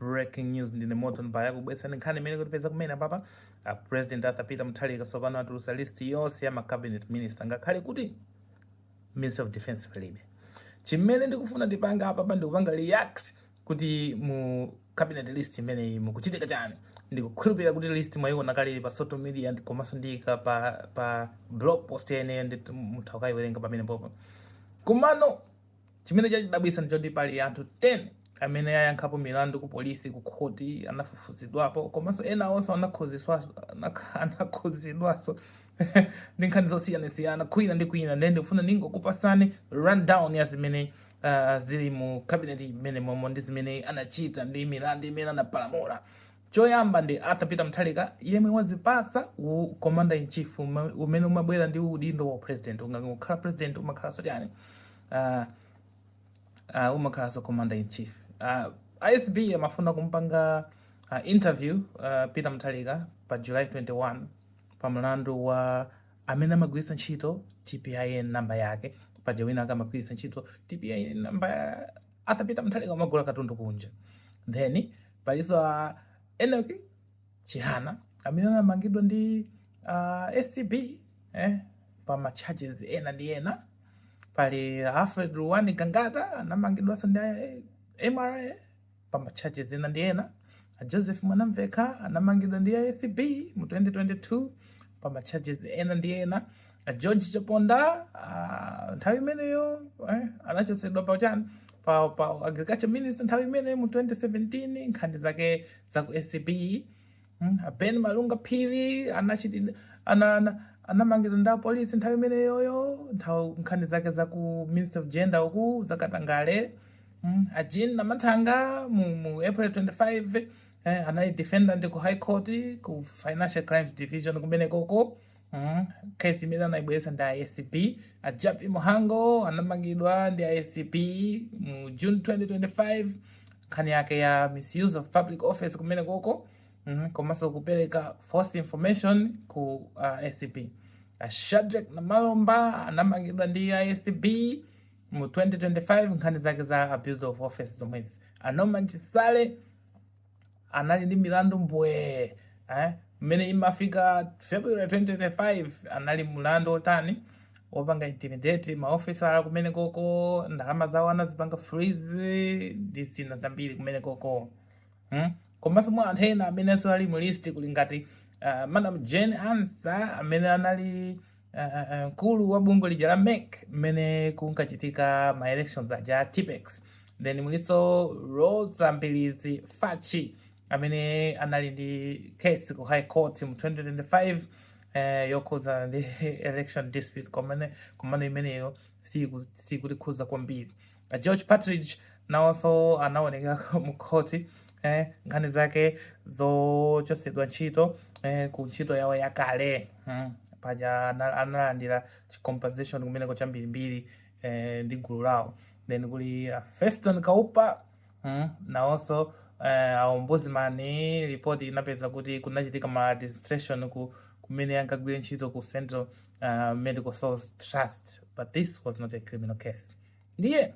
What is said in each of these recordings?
breaking news ndine moto mbaya kukubweretsani nkhani imene yatipeza kumene apapa a president arthur peter mutharika tsopano atulusa list yonse ya ma cabinet minister ngakhale kuti minister of defense palibe chimene ndikufuna ndipange apapa ndikupanga react kuti mu cabinet list imeneyi mukuchitika chani ndikukhulupirira kuti list mwayiona kale pa social media ndi- komanso ndiyika pa, pa blog post yomweyo ndithu mutha kukayiwerenga pamenepopo komano Chimene chandidabwitsa ndichoti pali anthu 10 amene ayankhapo milandu ku polisi, ku khoti, anafufuzidwapo komanso ena onse anakhuzidwaso ndi nkhani zosiyanasiyana kwina ndi kwina. Ndiye ndikufuna ndingokupasani rundown ya zimene uh, zili mu cabinet imeneyi momo ndi zimene anachita ndi milandu imene anapalamula. Choyamba ndi Arthur Peter Mutharika yemwe wazipasa u commander in chief umene umabwera ndi udindo wa president. Ungangokhala president umakhala so chani? Uh, uh, umakhala so commander in chief. Uh, ah, ACB amafuna kumpanga uh, interview uh, Peter Mutharika pa July 21 pa mlandu wa amene amagwiritsa ntchito TPIN namba yake paja wina akamagwiritsa ntchito TPIN namba Arthur Peter Mutharika amagula katundu kunja then Palinso a Enoch Chihana amene anamangidwa ndi uh, ACB eh, pa ma charges ena ndi ena. Pali Alfred Ruwan Gangata anamangidwanso ndi eh, MRA pa ma charges ena ndi ena. A Joseph Mwanamveka anamangidwa ndi ACB mu 2022 pa ma charges ena ndi ena. a george chaponda ah, nthawi imeneyo eh, anachotsedwa pa chani pa, pa agriculture minister nthawi imeneyo mu 2017 nkhani zake za ku acb mm, a ben malunga phiri anachitidwa ana, ana, anamangidwa ndi apolisi nthawi imeneyoyo nthawi nkhani zake za ku minister of gender uku zakatangale mm, a jean mathanga mu, mu april 25 eh, anali defendant ku high court ku financial crimes division kumenekoko Mm. Kesi imene anayibweretsa ndi ACB. A Jappie Mhango anamangidwa ndi ACB mu June 2025 nkhani yake ya misuse of public office kumenekoko mm, komanso kupereka false information ku uh, ACB. A Shadrack Namalomba anamangidwa ndi ACB mu 2025 nkhani zake za abuse of office zomwezi. A Norman Chisale anali ndi milandu mbwee eh? mmene imafika february 2025 anali mlandu wotani wopanga intimidate maofisala kumenekoko ndalama zawo anazipanga freeze ndi zina zambiri kumenekoko hmm? komanso mwa anthu ena amenenso ali mu list kuli ngati uh, madam jane ansah amene anali uh, uh, uh, mkulu wa bungwe lija la mec mmene kunkachitika ma elections aja a tippex then mulinso rosa mbilizi fachi amene anali ndi case ku high court mu 2025 eh, yokhuza ndi election dispute komano imeneyo sikutikhuza kwambiri A george partridge nawonso anaoneka mkhoti eh, nkhani zake zochosedwa ntchito eh, ku ntchito yawo yakale mm. paja ana- analandira chi- compensation kumeneko chambirimbiri eh, ndi gulu lawo then kuli a feston kaupa mm. nawonso eh, aombudsman report inapeza kuti kunachitika maladministration kumene ankagwira ntchito ku central uh, medical stores trust but this was not a criminal case ndiye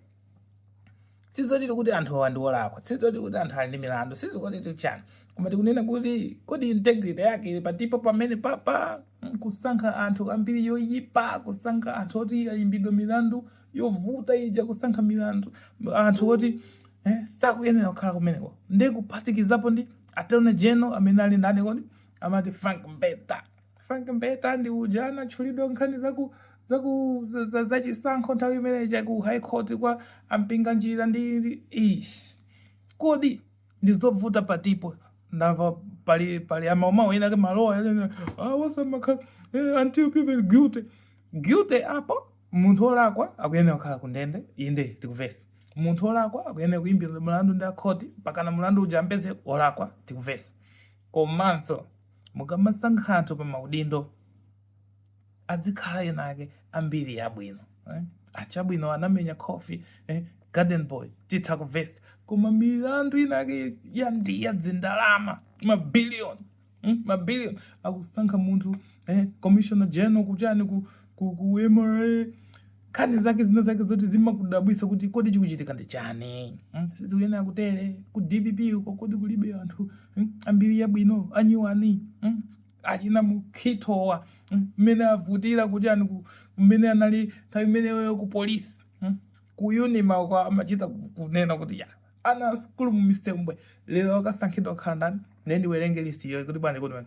sizoti tikuti anthu awa ndiolakwa sizoti kuti anthu ali ndi milandu sizikuti tichani koma tikunena kuti kodi integrity yake ili patipo pamene papa Mm, kusankha anthu ambiri yoyipa kusankha anthu oti ayimbidwa milandu yovuta ija kusankha milandu anthu oti eh, sakuyenera kukhala kumeneko ndi kuphatikizapo ndi attorney general amene ali ndani kodi amati frank mbeta Frank Mbeta ndi uja anatchulidwa nkhani zaku zaku za- za- zachisankho nthawi imene ija ku high court kwa a Mpinganjira ndi ndi- ish kodi ndi zovuta patipo ndamva pali pali amawumawu ena ake maloya ena a wa samakha until proven guilty guilty apo munthu olakwa akuyenera kukhala ku ndende inde tikuvesa munthu olakwa akuyenera kuyimbidwa mulandu ndi akhoti pakana mulandu uja ampeze olakwa tikuvesa komanso mukamasankha anthu pa maudindo azikhala ena ake ambiri yabwino eh? achabwino anamenya khofi eh? garden boy titha kuvesa koma milandu ina ake ya ndi ya dzindalama mabiliyoni mm? mabiliyoni akusankha munthu eh? commissioner general kuchani ku, ku, ku mra nkhani zake zina zake zoti zimakudabwisa kuti kodi chikuchitika ndi chani mm? sizikuyenera kutere ku dpp uko kodi kulibe anthu mm? ambiri yabwino anyiwani mm? achina mukhitowa mmene mm? avutira kuti ani mmene anali nthawi imeneyo ku polisi mm? ku unima uko amachita kunena kuti ya ana a sukulu mu Msundwe lero akasankhidwa kukhala ndani ndiye ndiwerenge listiyo kuti bwani kuti bwani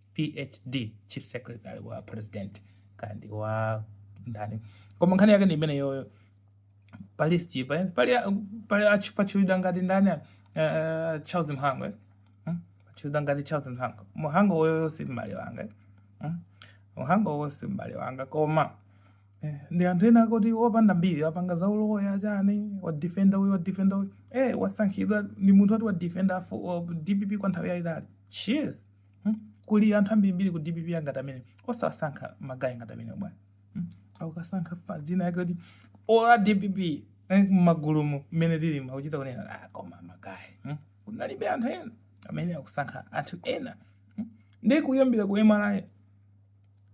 phd chief secretary wa president kaya ndi wa ndani koma nkhani yake ndi imeneyoyo palisti pa- pali pali achu- pachulidwa ngati ndani uh, charles mhango eh? Hmm? pachulidwa ngati charles mhango mhango oyoyo si m'bale wanga eh? Hmm? mhango oyo si m'bale wanga koma eh, ndi anthu ena akuti opanda mbiri apanga za uloya chani wadifenda uyu wadifenda uyu eh, wasankhidwa ndi munthu oti wadifenda afu- wa dpp kwa nthawi yayitali cheers Hmm? Kuli anthu ambirimbiri ku DPP angati amene osawasankha magayi ngati amenewa bwana. Hmm? Akukasankha pa dzina yake kuti ola DPP eh, mmagulumu mmene tili makuchita kunena ah, koma magayi. Hmm? Kunalibe anthu ena amene akusankha anthu ena. Hmm? Ndi kuyambira ku MRA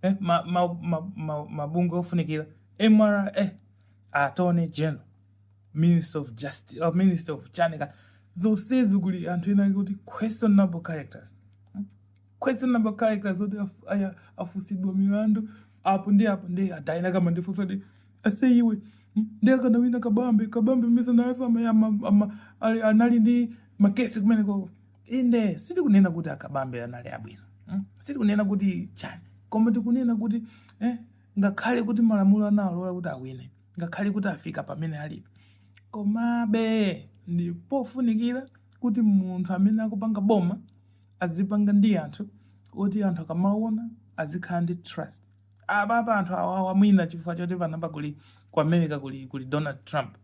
eh, mabungwe ma, ma, ma, ma ofunikira MRA eh, attorney general minister of justice or minister of chanika zonsezi kuli anthu ena kuti questionable characters Hmm? questionable characters oti af- aya- afunsidwa milandu apo ndi apo ndi anthu ena akamandifunsa kuti ase iwe hmm, ndi akanawina kabambe kabambe mesa nayeso ama- ama- ama- ali- anali ndi makesi kumenekoko inde sitikunena kuti akabambe anali abwino hmm? sitikunena kuti chani koma tikunena kuti eh, ngakhale kuti malamulo analola kuti awine ngakhale kuti afika pamene alipo. Komabe ndi pofunikira kuti munthu amene akupanga boma azipanga ndi anthu oti anthu akamaona azikhala ndi trust apapa anthu awawa mwina chifukwa choti panopa kuli ku america kuli kuli donald trump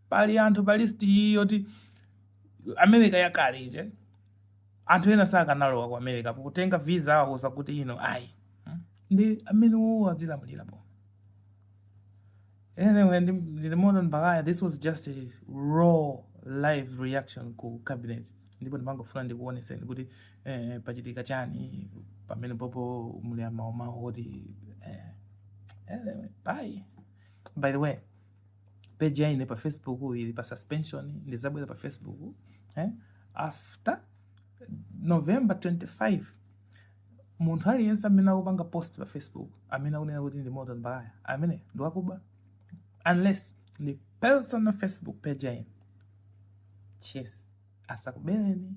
pali anthu pa list yoti america yakale ije anthu ena sakanalowa ku america pokatenga visa awauza kuti ino ayi hmm? ndi amenewowo azilamulira boma Anyway, ndi ndi Morton Baghaya. This was just a raw live reaction ku cabinet. Ndipo ndimangofuna ndikuoneseni kuti eh, pachitika chani pamenepopo muli amaomawo kuti eh, anyway, bye. By the way, page ya ine pa Facebook ili pa suspension, ndizabwera pa Facebook eh, after November 25 munthu aliyense amene akupanga post pa facebook amene akunena kuti ndi morton baghaya amene ndi wakuba unless ndi personal facebook page ya ine cheers asakubeleni